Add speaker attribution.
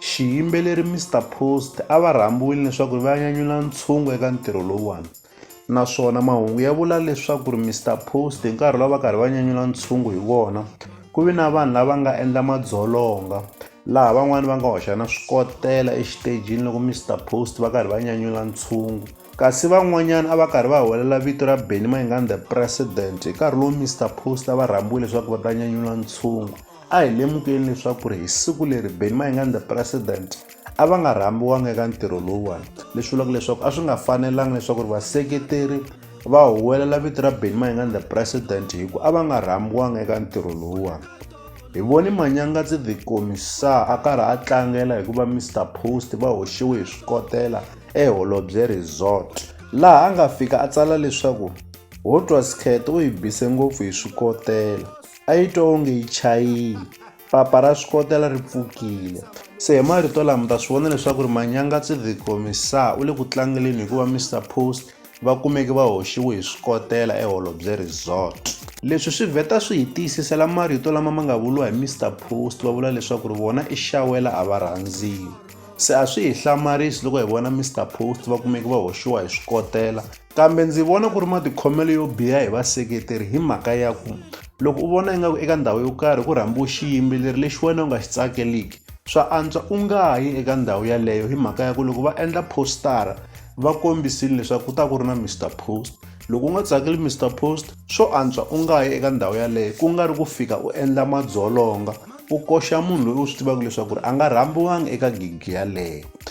Speaker 1: Xiyimbeleri Mister Post a va rhambiwile leswaku ri va nyanyula ntshungu eka ntirho lowuwani naswona mahungu ya vula leswaku ri Mister Post hi nkarhi lowu va karhi va nyanyula ntshungu hi wona ku vi na vanhu lava nga endla madzolonga laha van'wani va nga hoxa na swikotela exitejini loko Mister Post va karhi va nyanyula ntshungu kasi van'wanyana a va karhi va huwelela vito ra Benny Mayengani the president hi nkarhi lowu Mister Post a va rhambiwile leswaku va ta nyanyula ntshungu a hi lemukeni leswaku ri hi siku leri beni mayinganda president a va nga rhambiwanga eka ntirho lowuwani leswi vulaka leswaku a swi nga fanelanga leswaku ri vaseketeri va huwelela vito ra beni mayinganda president hi ku a va nga rhambiwanga eka ntirho lowuwani hi voni manyangatsi the commissar a karhi a tlangela hikuva mr post va hoxiwe hi swikotela eholobye resort laha a nga fika a tsala leswaku ho twa skhet u yi bise ngopfu hi swikotela a yi twa onge yi chayile papa ra swi kotela ri pfukile se hi marito lama ta swi vona leswaku ri manyanga tsidhiko misa u le ku tlangeleni hikuva mr post va kumeke va hoxiwe hi swi kotela eholobye resort leswi swi vheta swi hi tiyisisela marito lama ma nga vuriwa hi mr post va vula leswaku ri vona i xawela a va rhandziwi se a swi hi hlamarisi loko hi vona mr post va kumeke va hoxiwa hi swi kotela Kambe ndzi vona ku ri matikhomelo yo biha hi vaseketeri hi mhaka ya ku loko u vona ingaku eka ndhawu yo karhi ku rhambiwe xiyimbeleri lexi wena u nga xi tsakeliki swa antswa u nga yi eka ndhawu yaleyo hi mhaka ya ku loko va endla postara va kombisile leswaku ku ta ku ri na Mr Post loko u nga tsakeli Mr Post swo antswa u nga yi eka ndhawu yaleyo ku nga ri ku fika u endla madzolonga u koxa munhu loyi u swi tivaka leswaku ri a nga rhambiwanga eka gigi yaleyo